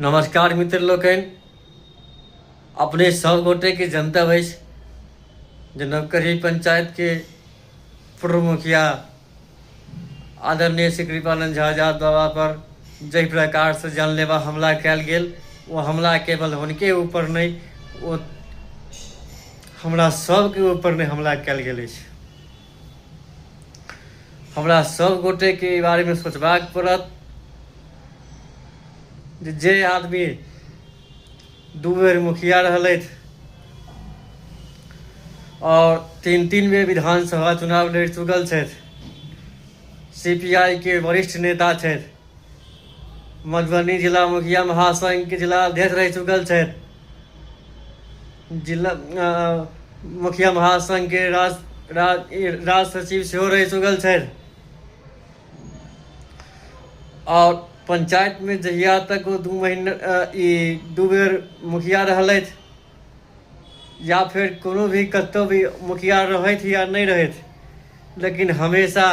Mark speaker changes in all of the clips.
Speaker 1: नमस्कार मित्र लोकनि अपने सब गोटे के जनता वैस जे नवकरी पंचायत के पूर्व मुखिया आदरणीय श्री कृपानंद झा झा बाबा पर जय प्रकार से जानलेवा हमला कल गेल वो हमला केवल उनके ऊपर नहीं वो हमरा सबके ऊपर नहीं हमला कल गेल अछि हमरा सब गोटे के ई बारे में सोचबाक पड़त जे जे आदमी दू बेर मुखिया रहलथि और तीन तीन बेर विधानसभा चुनाव लड़ चुकल छथि सीपीआई के वरिष्ठ नेता छथि मधुबनी जिला मुखिया महासंघ के जिला अध्यक्ष रह चुकल छथि जिला मुखिया महासंघके राज राज राज सचिव सेहो रहि चुकल छथि आओर पंचायतमे जहिया तक ओ दू महीना ई दू बेर मुखिया रहलथि या फिर कोनो भी कतहु भी मुखिया रहथि या नहि रहथि लेकिन हमेशा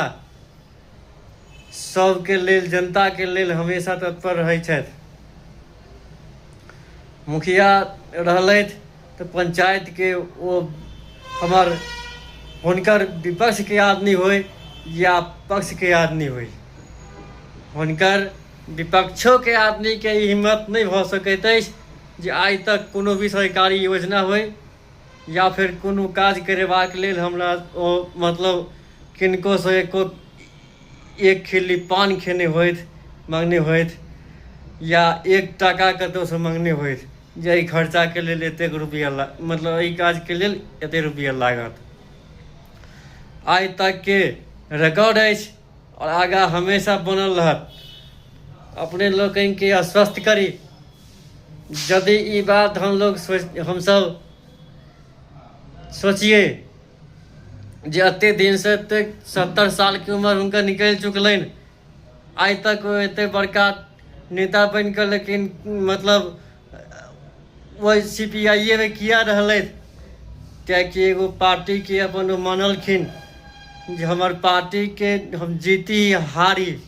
Speaker 1: सबके लेल जनता के लेल हमेशा तत्पर रहै छथि मुखिया रहलथि तऽ पंचायत के ओ हमर हुनकर विपक्ष के आदमी होय या पक्ष के आदमी होय हुनकर विपक्षो के आदमी के ई हिम्मत नहि भऽ सकैत अछि जे आइ तक कोनो भी सरकारी योजना होय या फेर कोनो काज करेबाक लेल हमरा ओ मतलब किनकोसँ एको एक खिल्ली पान खेने होथि मङ्गने होथि या एक टाका कतहुसँ मङ्गने होथि जे एहि खर्चाके लेल एतेक रुपैआ ला मतलब एहि काजके लेल एतेक रुपैआ लागत आइ तकके रिकॉर्ड अछि आओर आगाँ हमेशा बनल रहत अपने लोकनिकेँ आश्वस्त करी यदि ई बात हम लोग सोच हमसभ सोचिए जे एते दिन से एते सत्तर साल के उम्र हुनकर निकलि चुकलनि आइ तक ओ एते बड़का नेता बनि कऽ लेकिन मतलब ओहि सी पी आइए मे किया रहलथि कियाकि एगो पार्टी के अपन ओ मानलखिन जे हमर पार्टी के हम जीती हारी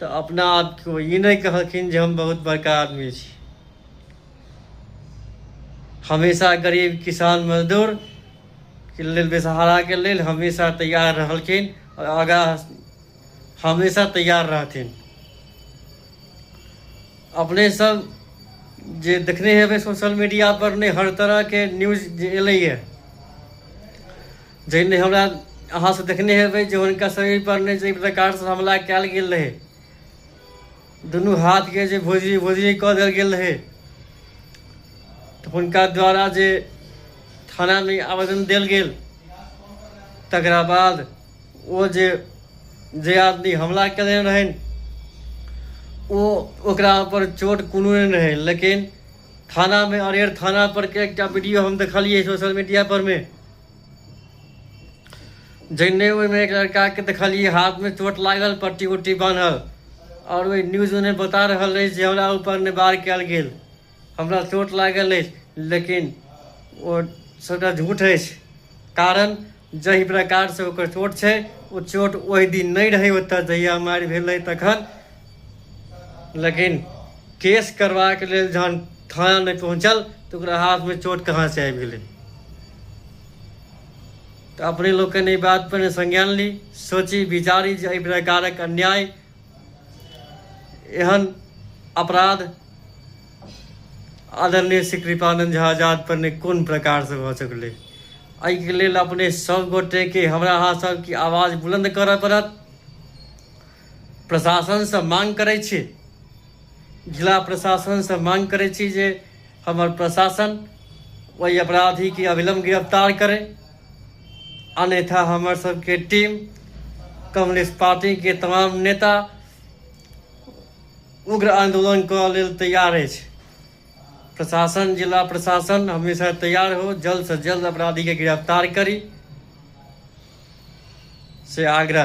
Speaker 1: तऽ अपना आपको ई नहि कहलखिन जे हम बहुत बड़का आदमी छी हमेशा गरीब किसान मजदूर के लेल बेसहाराके लेल हमेशा तैयार रहलखिन आओर आगाँ हमेशा तैयार रहथिन अपने सब जे देखने हेबै सोशल मीडिया पर नहि हर तरहके न्यूज जे एलैए जहिने हमरा अहाँ से देखने हेबै जे हुनका शरीर पर नहि जे प्रकार से हमला कयल गेल रहै दुनू हाथ के जे भोजी भोजी कऽ देल गेल रहै तऽ हुनका द्वारा जे थाना में आवेदन देल गेल तकरा बाद ओ जे जे आदमी हमला कयने रहनि ओ ओकरा पर चोट कोनो नहि रहै लेकिन थानामे अरेर थानापर के एकटा वीडियो हम देखलियै सोशल मीडियापरमे जैने ओहिमे एक लड़काके देखलियै हाथमे चोट लागल पट्टी उट्टी बान्हल आओर ओहि न्यूजमे नहि बता रहल अछि जे हमरा ऊपर नहि बार कयल गेल हमरा चोट लागल अछि लेकिन ओ सभटा झूठ अछि कारण जाहि प्रकारसँ ओकर चोट छै ओ चोट ओहि दिन नहि रहै ओतय जहिया मारि भेलै तखन लेकिन केस करबाके लेल जहन थाना नहि पहुँचल तऽ ओकरा हाथमे चोट कहाँसँ आबि गेलै तऽ अपने लोकनि एहि बातपर ने संज्ञान ली सोची विचारी जे एहि प्रकारक अन्याय एहन अपराध आदरणीय श्री कृपानंद झा आजाद पर ने कोन प्रकार से भऽ सकलै एहिके लेल अपने सभ गोटेके हमरा अहाँ सभके आवाज बुलंद करय पड़त प्रशासनसँ मांग करै छी जिला प्रशासनसँ मांग करै छी जे हमर प्रशासन ओहि अपराधीके अविलम्ब गिरफ्तार करै अन्यथा हमर सबके टीम कम्युनिस्ट पार्टीके तमाम नेता उग्र आंदोलन कऽ लेल तैयार अछि प्रशासन जिला प्रशासन हमेशा तैयार हो जल्द से जल्द अपराधी के गिरफ्तार करी से आगरा